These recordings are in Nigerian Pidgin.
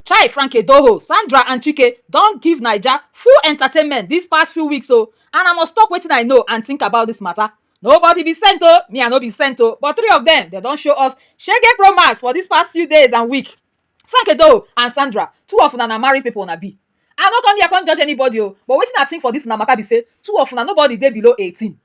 Chai Frank Edoho, Sandra and Chike don give Naija full entertainment this past few weeks o and I must talk wetin I know and think about this matter. Nobody be saint o, me I no be saint o but three of them dem don show us shege pro max for this past few days and week. Frank Edoho and Sandra, two of una na married people una be. I no come here come judge anybody o but wetin I think for this una matter be say two of una nobody dey below eighteen.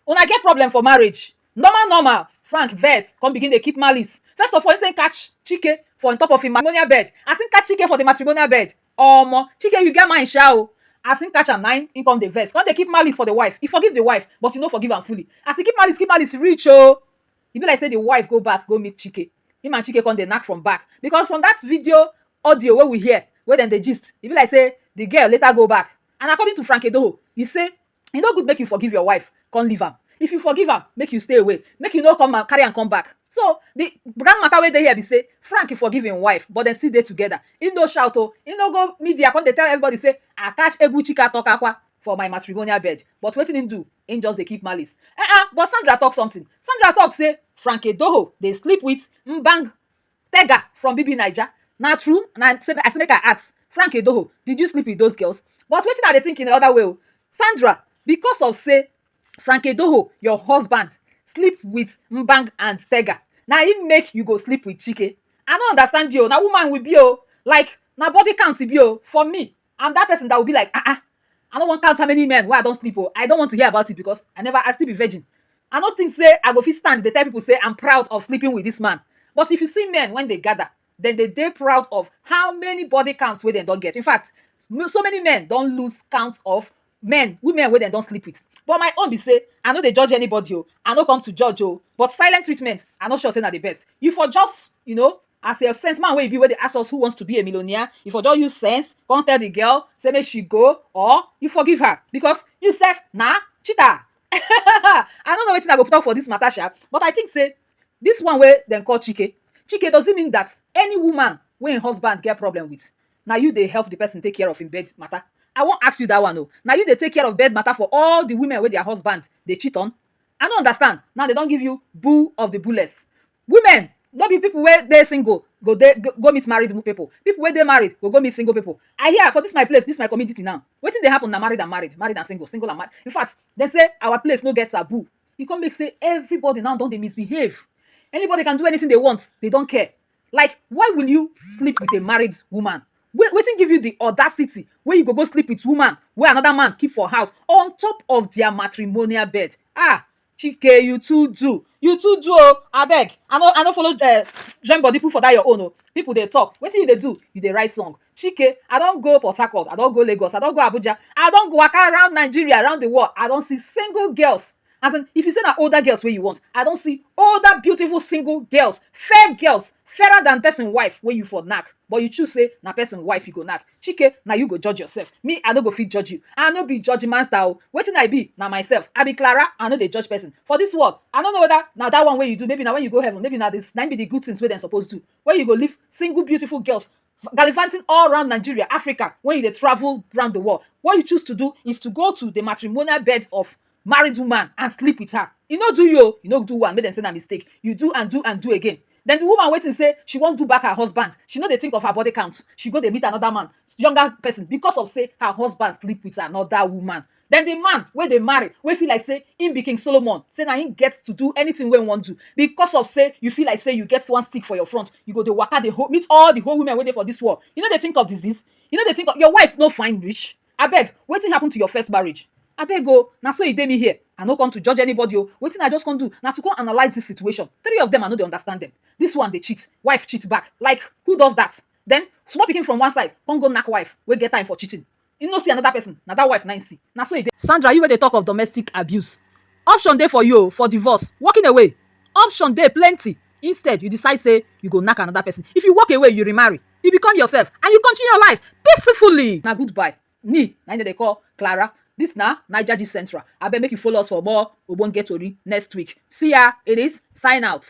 Una get problem for marriage? Normal normal, Frank vex come begin dey keep malice. First of all, he say he catch Chike for on top of im matrimonial bed. As he catch Chike for the matrimonial bed, omo, Chike you get mind sha o. As he catch am na im he come dey vex, come dey keep malice for the wife. He forgive the wife but he no forgive am fully. As he keep malice keep malice reach o, e be like say the wife go back go meet Chike. Im and Chike come dey knack from back because from dat video audio wey we hear wey dem dey gist, e be like say the girl later go back. And according to Frank Edoho, he say E no good make you forgive your wife come leave am. If you forgive am, make you stay away. Make you no come carry am come back. So, the grand matter wey dey here be say Frank e forgive im wife but dem still dey together. E no shout o, e no go media come dey tell everybody say I catch Egwu Chika Tokakwa for my matrimonial bed. But wetin im do? Im just dey keep malice. Eh-eh, but Sandra talk something. Sandra talk say Frank Edoho dey sleep with Mbang. Tega from BBNaija, na true na I say make I ask Frank Idoho did you sleep with those girls but wetin I dey think in another way o Sandra because of say Frank Idoho your husband sleep with Mbang and Tega na im make you go sleep with Chike I no understand you o na woman we be o like na body count e be o for me and that person that will be like ah ah I no wan count how many men wey I don sleep o I don't want to hear about it because I never I still be virgin I no think say I go fit stand dey tell people say I'm proud of sleeping with this man but if you see men when they gather then they dey proud of how many body counts wey dem don get in fact so many men don lose count of men, women wey dem don sleep with but my own be sey I no dey judge anybody o, I no come to judge o but silent treatment I no sure sey na the best. You for just you know as your sense, man wey you be wey dey ask us who wants to be a millionaire? You for just use sense come tell the girl sey make she go or you forgive her because you self na cheater um I no know wetin I go talk for dis matter sha but I think sey dis one wey dem call Chike, Chike does it mean dat any woman wey im husband get problem with Na you dey help the person take care of him bed matter? I wan ask you that one o. Na you dey take care of bed matter for all the women wey their husband dey cheat on? I no understand. Now dem don give you bull of the bullets. Women no be people wey dey single go dey go meet married people. People wey dey married go go meet single people. I hear for this my place, this my community now, wetin dey happen na married and married, married and single, single and married. In fact, dem say our place no get taboo. E come make say everybody now don dey misbehave. Anybody can do anything they want. They don't care. like why will you sleep with a married woman wait wetin give you the audacity wey you go go sleep with woman wey another man keep for house on top of their matrimonial bed ah Chike you too do you too do o abeg I no I no follow um join body put for that your own o people dey talk wetin you dey do you dey write song Chike I don go Port Harcourt, I don go Lagos, I don go Abuja, I don go waka round Nigeria, round the world, I don see single girls as in if you say na older girls wey you want, I don see older beautiful single girls, fair girls, fairer than person wife wey you for knack but you choose say na person wife you go knack. Chike na you go judge yourself, me I no go fit judge you, I no be judge master o, wetin I be na myself, I be Clara, I no dey judge person. For this world, I no know whether na that one wey you do, maybe na when you go heaven, maybe na the na im be the good things wey dem suppose do, wey you go leave single beautiful girls gallivanting all round Nigeria, Africa, when you dey travel round the world, what you choose to do is to go to the matrimonial bed of married woman and sleep with her. E no do you o, e no do one, make dem say na mistake. You do and do and do again. Then the woman waiting say she wan do back her husband. She no dey think of her body count. She go dey meet another man, younger person because of say her husband sleep with another woman. Den di man wey dey marry, wey feel like sey im be king Solomon, sey na im get to do anytin wey im wan do, bicos of sey you feel like sey you get one stick for your front, you go dey waka dey meet all di whole women wey dey for dis world, you no dey tink of disease? You no dey tink of your wife no fine reach? Abeg, wetin happun to your first marriage? Abeg o, na so e dey me here, I no come to judge anybody o, wetin I just come do na to come analyse dis situation, three of dem I no dey understand dem, dis one dey cheat, wife cheat back, like who does dat? Den small pikin from one side come go nack wife wey get time for cheating, He no see another person, na that wife na him see. Na so e dey. Sandra, you wey dey talk of domestic abuse, option dey for you o for divorce, walking away. Option dey plenty. Instead, you decide say you go knack another person. If you walk away, you remarry, you become yourself and you continue your life peacefully. Na goodbye ni na him dem dey call Clara. This na Naija Gist Central. Abeg make you follow us for more ogbonge tori next week. See ya! It is sign out.